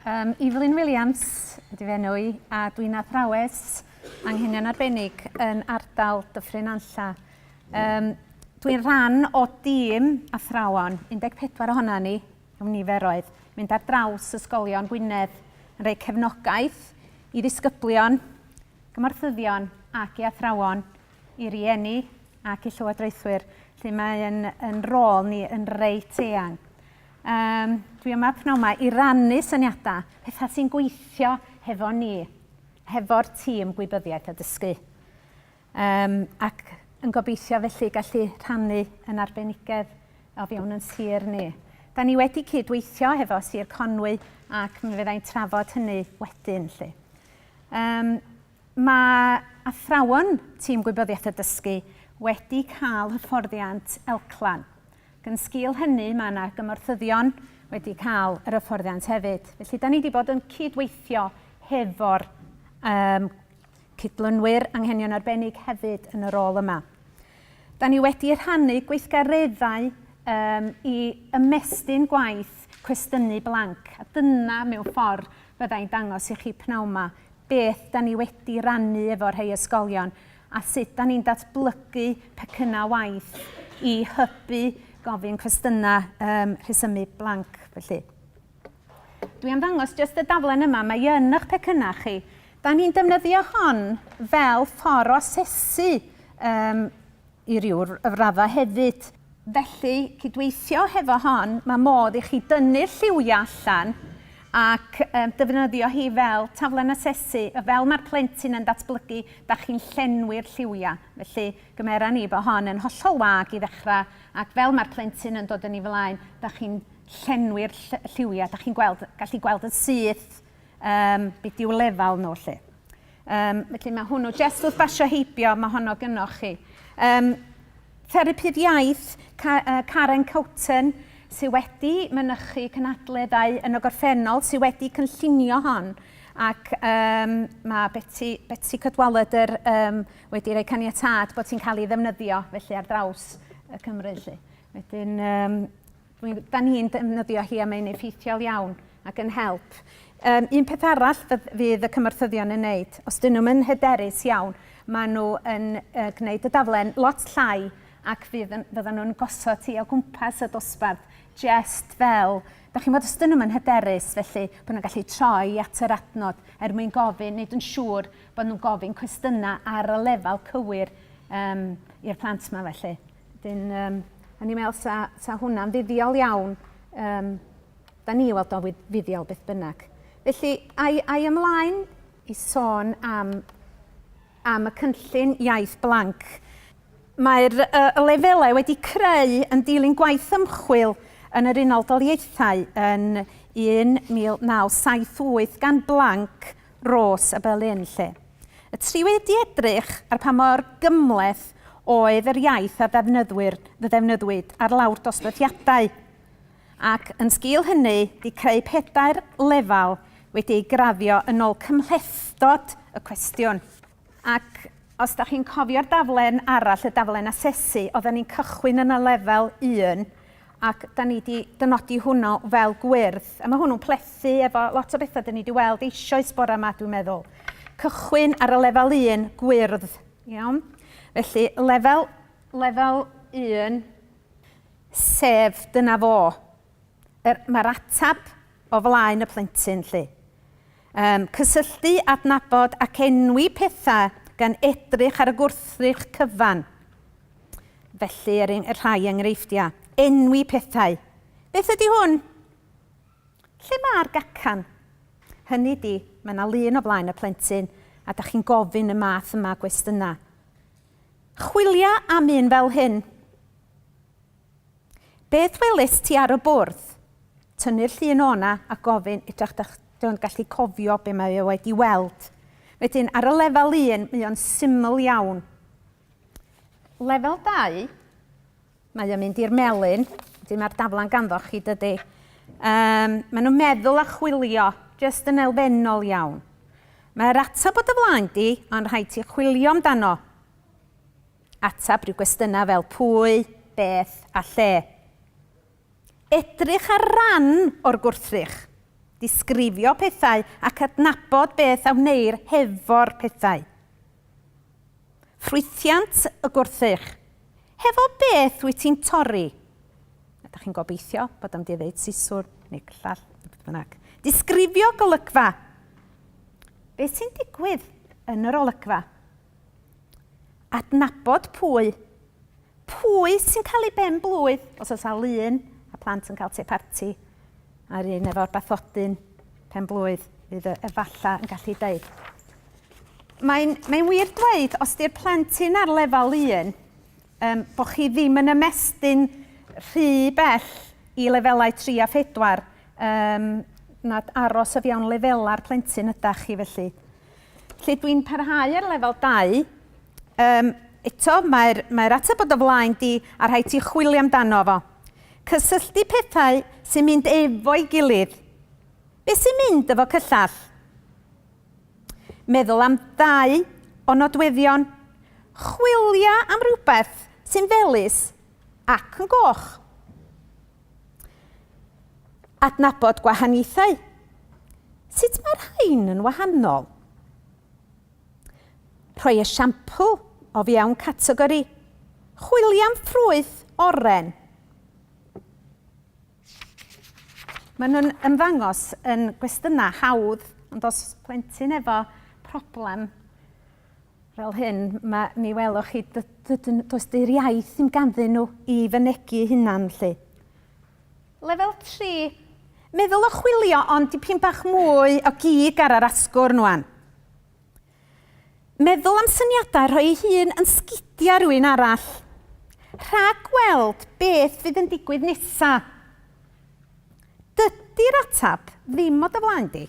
Um, Evelyn Williams ydy fe enw i, a dwi'n athrawes anghenion arbennig yn ardal Dyffryn Anlla. Um, dwi'n rhan o dîm athrawon, 14 ohona ni, yw'n niferoedd, mynd ar draws ysgolion Gwynedd yn rhoi cefnogaeth i ddisgyblion, gymorthyddion ac i athrawon i rieni ac i llywodraethwyr, lle mae yn, yn rôl ni yn reit eang. Um, dwi yma pnawn yma i rannu syniadau, pethau sy'n gweithio hefo ni, hefo'r tîm gwybyddiaeth a dysgu. Um, ac yn gobeithio felly gallu rhannu yn arbenigedd o fewn yn sir ni. Da ni wedi cydweithio hefo Sir Conwy ac mi fyddai'n trafod hynny wedyn. Lle. Um, Mae athrawon Tîm Gwybyddiaeth a Dysgu wedi cael hyfforddiant elclan, ac yn sgil hynny mae yna gymorthyddion wedi cael yr hyfforddiant hefyd. Felly, da ni wedi bod yn cydweithio hefo'r um, cydlynwyr anghenion arbennig hefyd yn y rôl yma. Da ni wedi rhannu gweithgareddau um, i ymestyn gwaith cwestiynu blanc, a dyna mewn ffordd fyddai'n dangos i chi pnawn yma beth 'da ni wedi rannu efo rhei ysgolion a sut 'da ni'n datblygu pecynnau waith i hybu gofyn cwestiynau, yym rhesymu blanc felly. Dwi am ddangos jyst y daflen yma, mae yn eich pecynnau chi. Da ni'n defnyddio hon fel ffordd o asesu um, i ryw raddau hefyd. Felly, cydweithio hefo hon, mae modd i chi dynnu'r lliwiau allan ac defnyddio hi fel taflen asesu, fel mae'r plentyn yn datblygu, da chi'n llenwi'r lliwiau. Felly, gymera ni bod hon yn hollol wag i ddechrau ac fel mae'r plentyn yn dod yn ei flaen, da chi'n llenwi'r lliwiau, da chi'n gweld, gallu gweld yn syth beth yw lefel nhw 'lly. Um, felly mae hwnnw, jest wrth basio heibio, mae honno gynoch chi. Um, Therapydd iaith, Karen Coulton, sydd wedi mynychu cynadleddau yn y gorffennol, sydd wedi cynllunio hon, ac um, mae Betty, Betty Cadwallader um, wedi rhoi caniatad bod hi'n cael ei ddefnyddio felly ar draws y Cymru. Felly. Wedyn, um, Mi ydan ni'n defnyddio hi a mae'n effeithiol iawn ac yn help. Yym, un peth arall fydd, fydd y cymorthyddion yn wneud, os dyn nhw'n yn hyderus iawn, maen nhw yn uh, gwneud y daflen lot llai ac fydd, fyddan nhw'n gosod ti o gwmpas y dosbarth, jest fel, da chi'n bod os dyn nhw'n yn hyderus, felly bod nhw'n gallu troi at yr adnod er mwyn gofyn, nid yn siŵr bod nhw'n gofyn cwestiynau ar y lefel cywir um, i'r plant yma felly. Dyn, um, a ni'n meddwl sa, sa hwnna'n fuddiol iawn. Um, da ni weld o'n fuddiol beth bynnag. Felly, ai, ai ymlaen i sôn am, am y cynllun iaith blanc. Mae'r uh, lefelau wedi creu yn dilyn gwaith ymchwil yn yr Unol Daliaethau yn 1978 gan blanc Rose a Berlin, lle y triwyd i edrych ar pa mor gymhleth oedd yr iaith a ddefnyddwyd ar lawr dosbarthiadau, ac yn sgil hynny di creu pedair lefel wedi ei graddio yn ol cymhlethdod y cwestiwn. Ac os da chi'n cofio'r daflen arall, y daflen asesu, oedden ni'n cychwyn yn y lefel un, ac da ni wedi dynodi hwnnw fel gwyrdd. A mae hwnnw'n plethu efo lot o bethau da ni wedi weld eisoes bore yma, dwi'n meddwl. Cychwyn ar y lefel un, gwyrdd. Iawn? Felly, lefel, lefel un, sef dyna fo. Yr, mae'r ateb o flaen y plentyn, 'lly. Yym, cysylltu, adnabod ac enwi pethau gan edrych ar y gwrthrych cyfan. Felly, er eng- rhai enghreifftiau. Enwi pethau. Beth ydy hwn? Lle mae'r gacan? Hynny di, mae yna lun o flaen y plentyn a da chi'n gofyn y math yma gwestiynau. Chwilia am un fel hyn. Beth welist ti ar y bwrdd? Tynnu'r llun o'na a gofyn idrach da dy o'n gallu cofio be mae e wedi weld. Wedyn, ar y lefel un, mae o'n syml iawn. Lefel dau, mae o'n mynd i'r melyn, wedyn mae'r daflan ganddoch chi, dydy. Um, mae nhw'n meddwl a chwilio, jyst yn elfennol iawn. Mae'r atab bod y flaen di, ond rhaid ti chwilio amdano. Ateb rhyw gwestiynau fel pwy, beth a lle. Edrych ar ran o'r gwrthrych. Disgrifio pethau ac adnabod beth a wneir hefo'r pethau. Ffrwythiant y gwrthrych. Hefo beth wyt ti'n torri? Ydych chi'n gobeithio bod am di ddeud siswrn neu gllall neu beth bynnag. Disgrifio golygfa. Beth sy'n digwydd yn yr olygfa? Adnabod pwy, pwy sy'n cael ei ben-blwydd, os oes na lun a plant yn cael te parti a'r un efo'r bathodyn pen-blwydd fydd e efallai yn gallu deud. Mae'n mae wir dweud, os di'r plentyn ar lefel un, um, bod chi ddim yn ymestyn rhy bell i lefelau 3 a 4, um, nad aros o fewn lefela'r plentyn ydach chi felly. Felly dwi'n parhau ar lefel 2. Um, eto, mae'r mae ateb bod o flaen di a rhaid ti chwilio amdano fo. Cysylltu pethau sy'n mynd efo'i gilydd. Be sy'n mynd efo cyllall? Meddwl am ddau o nodweddion. Chwilio am rhywbeth sy'n felus ac yn goch. Adnabod gwahaniaethau. Sut mae'r rhain yn wahanol? Rhoi esiampl o fiewn categori. Chwilio am ffrwyth oren. Maen nhw'n ymddangos yn gwestiynau hawdd, ond os plentyn efo problem fel hyn, mae, mi welwch chi, does dy'r iaith ddim ganddyn nhw i fynegu hunan, lle. Lefel 3. Meddwl o chwilio ond dipyn bach mwy o gig ar yr asgwrn wan. Meddwl am syniadau rhoi ei hun yn sgidia rhywun arall. Rhag weld beth fydd yn digwydd nesa. Dydy'r atab ddim o dy flaen di.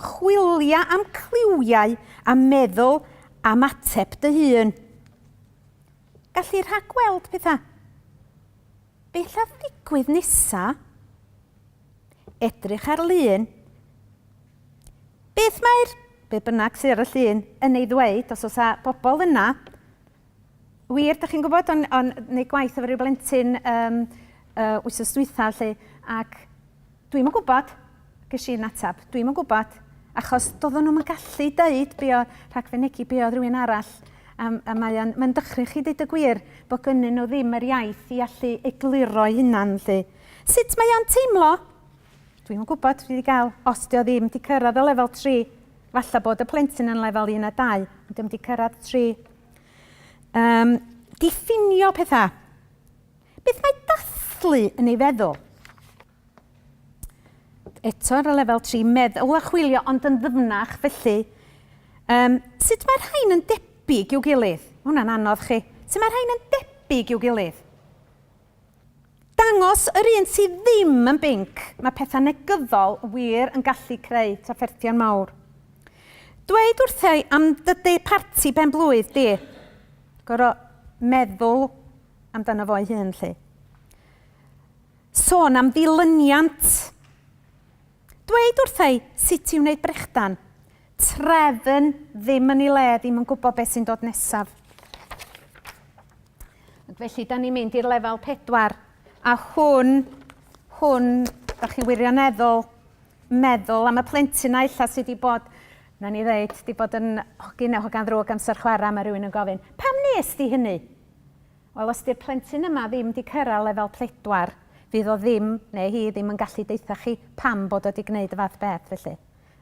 Chwilia am cliwiau a meddwl am ateb dy hun. Gallu rhagweld petha. Beth all ddigwydd nesa? Edrych ar lun. Beth mae'r, be bynnag sydd ar y llun, yn ei ddweud, os oes a bobl yna, wir, da chi'n gwybod, o'n, on, neu gwaith efo rhyw blentyn um, uh, wythnos dwytha, lle, ac Dwi'm yn gwybod, ges i yn ateb, dwi'm yn gwybod, achos doedden nhw'm yn gallu deud be oedd, rhag fynegi be oedd rhywun arall, a, a mae o'n, mae'n dychryn chi ddeud y gwir, bod gynnyn nhw ddim yr iaith i allu egluro'i hunan 'lly. Sut mae o'n teimlo? Dwi'm yn gwybod, dwi wedi cael, os dio ddim wedi cyrraedd y lefel tri, falle bod y plentyn yn lefel un a dau, ond dim wedi cyrraedd tri. Um, diffinio pethau. Beth mae dathlu yn ei feddwl? Eto ar y lefel tri, meddwl a chwilio ond yn ddyfnach, felly um, sut mae'r rhain yn debyg i'w gilydd? Mae hwnna'n anodd chi. Sut mae'r rhain yn debyg i'w gilydd? Dangos yr un sydd ddim yn binc, mae pethau negyddol wir yn gallu creu trafferthion mawr. Dweud wrthau am dy parti ben blwydd di. Gorau meddwl amdano fo'i hun, lle. Sôn am ddilyniant. Dweud wrtha i sut i wneud brechdan. Trefn ddim yn ei le, ddim yn gwybod beth sy'n dod nesaf. Felly, da ni'n mynd i'r lefel pedwar. A hwn, hwn, da chi'n wirioneddol meddwl am y plentyn a illa sydd wedi bod, na ni ddeud, wedi bod yn hogyn neu hogan ddrwg amser chwarae, mae rhywun yn gofyn, pam nes di hynny? Wel os di'r plentyn yma ddim di cyrra lefel pedwar fydd o ddim neu hi ddim yn gallu deutha chi pam bod o di gneud y fath beth felly.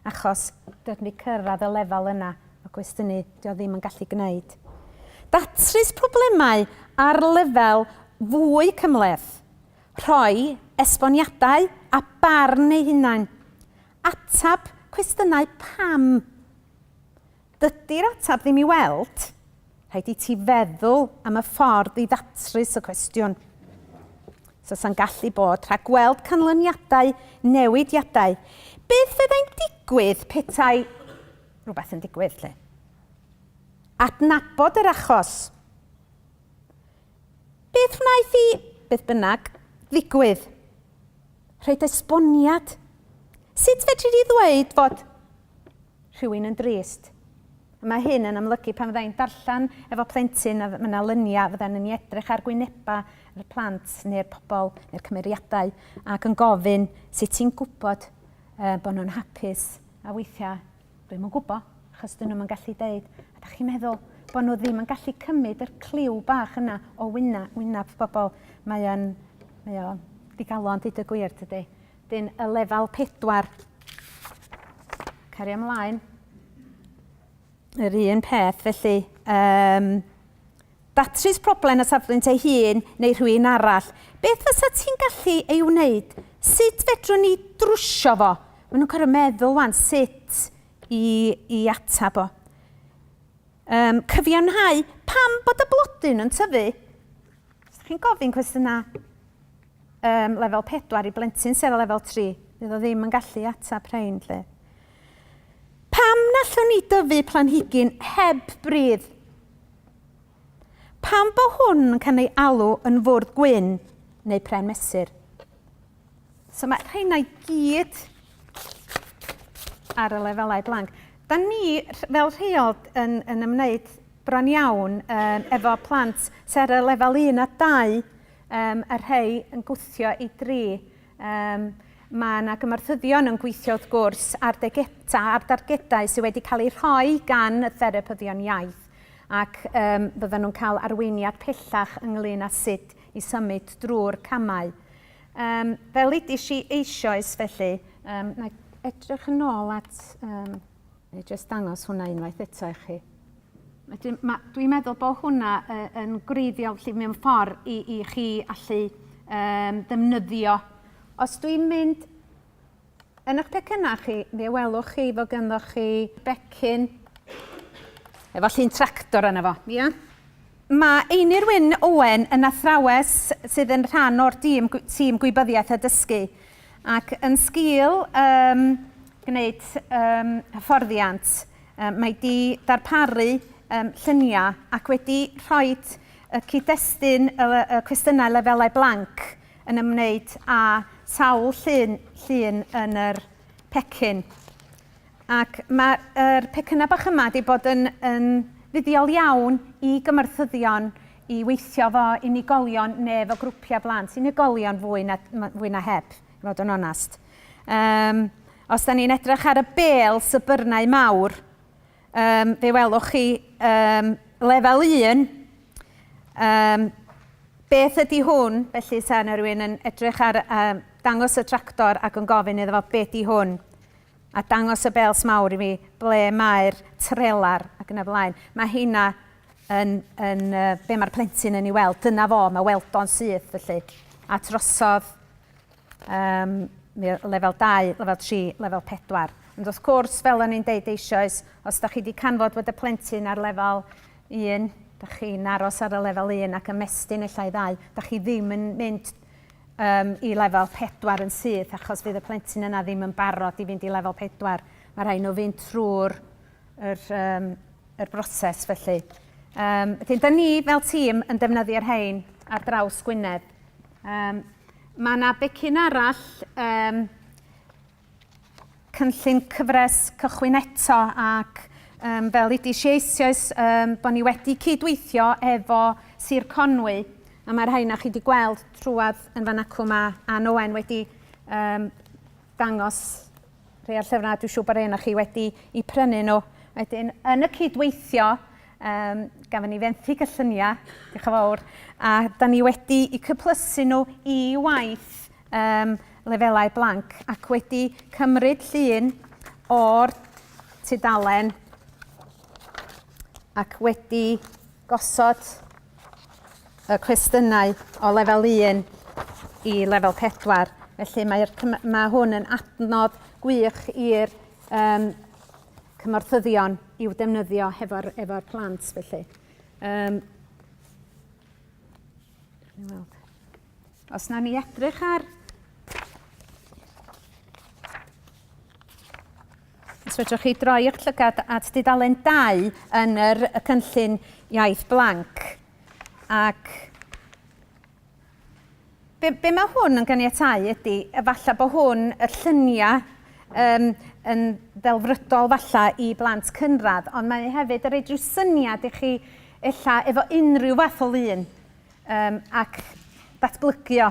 Achos dio di cyrradd y lefel yna o gwestiynu dio ddim yn gallu gneud. Datrys problemau ar lefel fwy cymhleth. Rhoi esboniadau a barn ei hunain. Atab cwestiynau pam. Dydy'r ateb ddim i weld. Rhaid i ti feddwl am y ffordd i ddatrys y cwestiwn. So sa'n gallu bod rhag gweld canlyniadau newidiadau. Beth fyddai'n digwydd petai rhywbeth yn digwydd, lle? Adnabod yr achos. Beth wnaeth i, beth bynnag, ddigwydd? Rhaid esboniad. Sut fedri di ddweud fod Rhywun yn drist. A mae hyn yn amlygu pan fydda i'n darllen efo plentyn a mae 'na lyniau fyddan yn edrych ar gwynebau yr plant neu'r pobl neu'r cymeriadau ac yn gofyn sut ti'n gwybod uh, bod nhw'n hapus a weithiau dwi'm yn gwybod achos dyn nhw'n gallu deud a da chi'n meddwl bod nhw ddim yn gallu cymryd yr cliw bach yna o wyna, wynaf bobl. Mae o'n, mae o digalon, dyd y gwir, tydi? Dyn y lefel pedwar. Cari ymlaen. Yr un peth, felly, um, datrys problem y safbwynt ei hun neu rhywun arall. Beth fysa ti'n gallu ei wneud? Sut fedrwn ni drwsio fo? Mae nhw'n cael meddwl wan sut i, i atab o. Um, cyfiawnhau pam bod y blodyn yn tyfu Os ydych chi'n gofyn cwestiynau um, lefel 4 i blentyn sydd o lefel 3, fydd o ddim yn gallu atab rhain. Lle. Pam nallwn ni dyfu planhigyn heb bridd? Pam bo hwn yn cael ei alw yn fwrdd gwyn neu pren mesur? So mae rheina i gyd ar y lefelau blanc. Da ni fel rheol yn, yn ymwneud bron iawn um, efo plant sy'n ar y lefel 1 a 2, um, a rhai yn gwthio i 3. Um, mae yna gymarthyddion yn gweithio wrth gwrs ar, degeta, ar dargedau sydd wedi cael eu rhoi gan y therapyddion iaith ac um, byddan nhw'n cael arweiniad pellach ynglyn â sut i symud drwy'r camau. Yym, fel ddudis i eisoes felly, yym, na i edrych yn ôl at, yym, na i jyst dangos hwnna unwaith eto i chi. Wedyn, ma, dwi'n meddwl bod hwnna yy yn gwreiddiol felly mewn ffordd i, i chi allu yym, ddefnyddio. Os dwi'n mynd Yn eich pecynnau chi, fe welwch chi fod ganddoch chi becyn efo llun tractor yna fo. Ia. Mae Einir Wyn Owen yn athrawes sydd yn rhan o'r dîm, tîm gwybyddiaeth a dysgu ac yn sgil um, gwneud um, hyfforddiant, um, mae wedi darparu um, lluniau ac wedi rhoi y cyd-destun y, y cwestiynau lefelau blanc yn ymwneud â sawl llun, llun yn yr pecyn. Ac mae'r er pecynnau bach yma wedi bod yn, yn fuddiol iawn i gymorthyddion i weithio fo unigolion neu fo grwpiau blant, unigolion fwy na, fwy na heb, i fod yn onest. Um, os da ni'n edrych ar y bel sybyrnau mawr, Yym, fe welwch chi yym, lefel un, yym, beth ydy hwn, felly sa yna rhywun yn edrych ar um, dangos y tractor ac yn gofyn iddo fo beth di hwn, a dangos y bels mawr i mi ble mae'r trelar ac yna flaen. Mae hynna yn, yn uh, be mae'r plentyn yn ei weld, dyna fo, mae weld o'n syth felly. A trosodd Yym, mi oedd lefel 2, lefel 3, lefel 4. Ond wrth gwrs, fel o'n i'n deud eisoes, os da chi wedi canfod bod y plentyn ar lefel 1, da chi'n aros ar y lefel 1 ac ymestyn ella i ddau, da chi ddim yn mynd um, i lefel 4 yn syth achos bydd y plentyn yna ddim yn barod i fynd i lefel 4. Mae rhaid nhw fynd trwy'r yr, um, yr broses felly. Um, Ydyn, da ni fel tîm yn defnyddio'r rhain ar draws Gwynedd. Um, mae yna becyn arall um, cynllun cyfres cychwyn eto ac um, fel ydys eisioes um, bod ni wedi cydweithio efo Sir Conwy a mae'r rhain a chi wedi gweld trwad yn fan acw mae Ann Owen wedi um, dangos Rhai o'r llyfrau a dwi'n siŵr bod rhai o'na chi wedi i prynu nhw. Wedyn, yn y cydweithio, um, gafon ni fenthyg y lluniau, diolch yn fawr, a da ni wedi i cyplysu nhw i waith um, lefelau blanc ac wedi cymryd llun o'r tudalen ac wedi gosod y cwestiynau o lefel 1 i lefel 4. Felly mae'r mae hwn yn adnodd gwych i'r um, cymorthyddion i'w defnyddio hefo'r efo plant felly. Um, Os na ni edrych ar Os fedrwch chi droi'ch llygad at dudalen 2 yn yr y cynllun iaith blanc, ac be, be mae hwn yn ganiatau ydy, efallai bod hwn, y lluniau, um, yn ddelfrydol falla i blant cynradd, ond mae hefyd yn rhaid rhyw syniad i chi ella efo unrhyw fath o lun um, ac datblygio